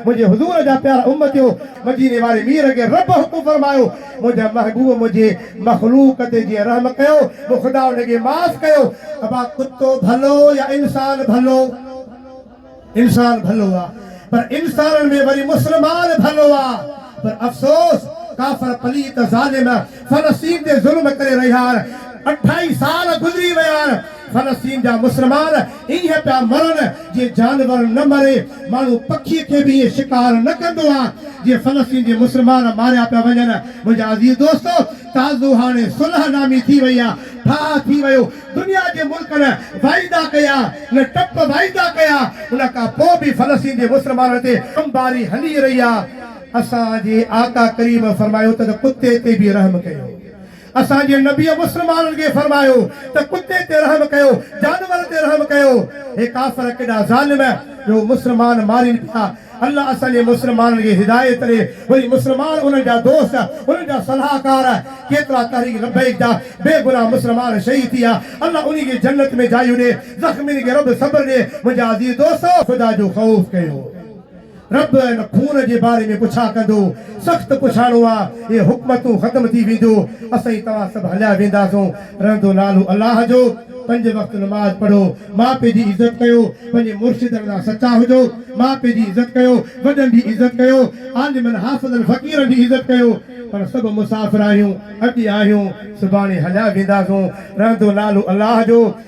منهنجي حضور جا پيارا امتيو! مديني واري مير کي رب حڪم فرمايو، منهنجا محبوب منهنجي مخلوق تي جيئن رحم ڪيو، مون خدا انهن کي معاف ڪيو. ابا ڪتو ڀلو يا انسان ڀلو؟ انسان ڀلو آ، پر انسانن ۾ وري مسلمان ڀلو آ. پر افسوس! ڪافر پليت ظالم فلسطين تي ظلم ڪري رهيا آهن. اڍائي سال گذري ويا آهن. فلسطين جا مسلمان ائين پيا مرن جيئن جانور نه مري، ماڻهو پکي کي به ائين شڪار نه ڪندو آ جيئن فلسطين جي مسلمان ماريا پيا وڃن. منهنجا عزيز دوستو! تازو هاڻي صلح نامي ٿي وئي آ، ٺاهه ٿي ويو، دنيا جي ملڪن واعدا ڪيا، نه ٽپ واعدا ڪيا، ان کان پوء به فلسطين جي مسلمانن تي بمباري هلي رهي آ، اسان جي آقا ڪريم فرمايو ته ته ڪتي تي به رحم ڪيو. اسان جي نبيء مسلمانن کي فرمايو ته ڪتي تي رحم ڪيو، جانور تي رحم ڪيو. هي ڪافر ڪيڏا ظالم جو مسلمان مارين پيا. الله اسان جي مسلمانن کي هدايت ڏي. وري مسلمان انهن جا دوست، انهن جا صلاحڪار، ڪيترا تحريڪ لبيڪ جا بي گناهه مسلمان شهيد ٿي ويا. الله انهن کي جنت ۾ جايون ڏي. زخمين کي رب صبر ڏي. منهنجا عزيز دوستو! خدا جو خوف ڪيو. رب ان خون جي باري ۾ پڇا ڪندو، سخت پڇاڻو آ، اهي حڪمتون ختم ٿي وينديو، اسين توهان سڀ هليا وينداسون، رهندو نالو الله جو، پنج وقت نماز پڙهو، ماء پي جي عزت ڪيو، پنهنجي مرشدن سان سچا هجو، ماء پي جي عزت ڪيو، وڏن جي عزت ڪيو، عالمن حافظن فقيرن جي عزت ڪيو، پاڻ سڀ مسافر آهيون، اڄ آهيون، سڀاڻي هليا وينداسون، رهندو نالو الله جو.